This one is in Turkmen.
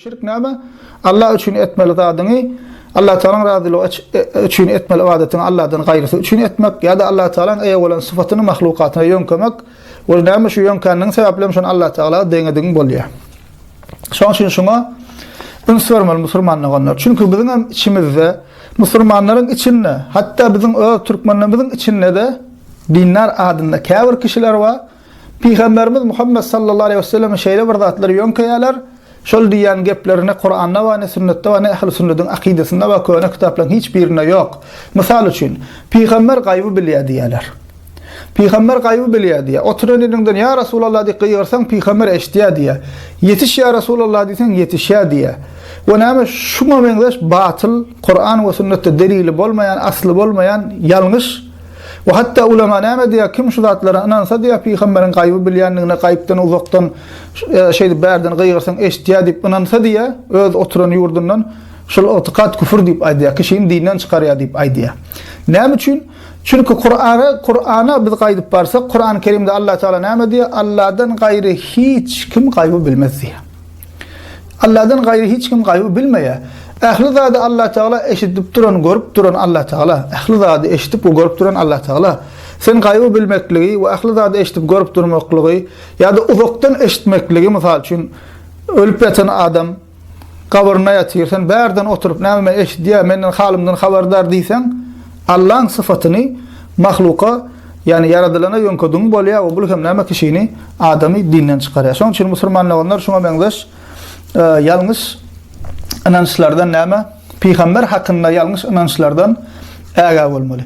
Şirk näme? Allah üçin etmeli zadyňy, Allatagalaň razylygy üçin etmeli ybadatyňy Allahdan gaýrysy üçin etmek, ýa-da Allatagalaň eýe bolan sypatyny mahlukatyna ýöňkemek, we näme şu ýöňkändigiň sebäpli hem şony Allatagala deňedigiň bolýar. Şoň üçin şuňa üns bermeli musulman doganlar. Çünki biziň hem içimizde, musulmanlaryň içinde, hatda biziň öz türkmenlerimiziň içinde-de dindar adynda käbir kişiler bar, Pygamberimiz Muhammet sallallahu aleýhi we sellem şeýle bir zatlary ýöňkeýärler, şol diýýän gepleri ne Kuranda bar, ne sünnetde bar, ne ähli sünnediň akydasynda we köne kitaplaryň hiç birinde ýok. Mysal üçin, Pygamber gaýby bilýär diýýärler. Pygamber gaýby bilýär diýýär. Oturan ýeriňden ýa Resulallah diýip gygyrsaň Pygamber eşitýär diýýär. Ýetiş ýa Resulallah diýseň ýetişýär diýýär. We näme şuňa meňzeş batyl Kuran we sünnetde delili bolmaýan, asly bolmaýan ýalňyş We hatda ulema näme diýýär, kim şu zatlara ynansa diýýär, pygamberiň gaýby bilýändigine, gaýypdan uzakdan şeýdip bärden gygyrsaň eşitýär diýip ynansa diýýär, öz oturan ýurdundan şul ygtykat küfür diýip aýdýar, kişini dinden çykarýar diýip aýdýar. Näme üçin? Çünki Kur'ana, Kur'ana biz gaýdyp barsak, Kur'an-Kerimde Alla Taala näme diýýär? Alladan gaýry hiç kim gaýby bilmez diýýär. Allahdan gaýry hiç kim gaýby bilmeýär. Ähli zady Allah Tagala eşidip duran, görüp duran Allah Tagala. Ähli zady eşidip we görüp duran Allah Tagala. Sen gaýby bilmekligi we ähli zady eşidip görüp durmaklygy ýa-da uzakdan eşitmekligi mysal üçin ölüp ýatan adam gabyrynda ýatyr, sen bärden oturyp näme men eşidýär, menden halymdan habardar diýseň, Allaň syfatyny mahluka Ýagny ýaradylana ýöňke düň bolýar we bul hem näme kişini, adamy dinden çykarýar. Şonuň üçin musulman doganlar şuňa meňzeş ýalňyş ynançlardan näme, pygamber hakynda ýalňyş ynançlardan ägä bolmaly.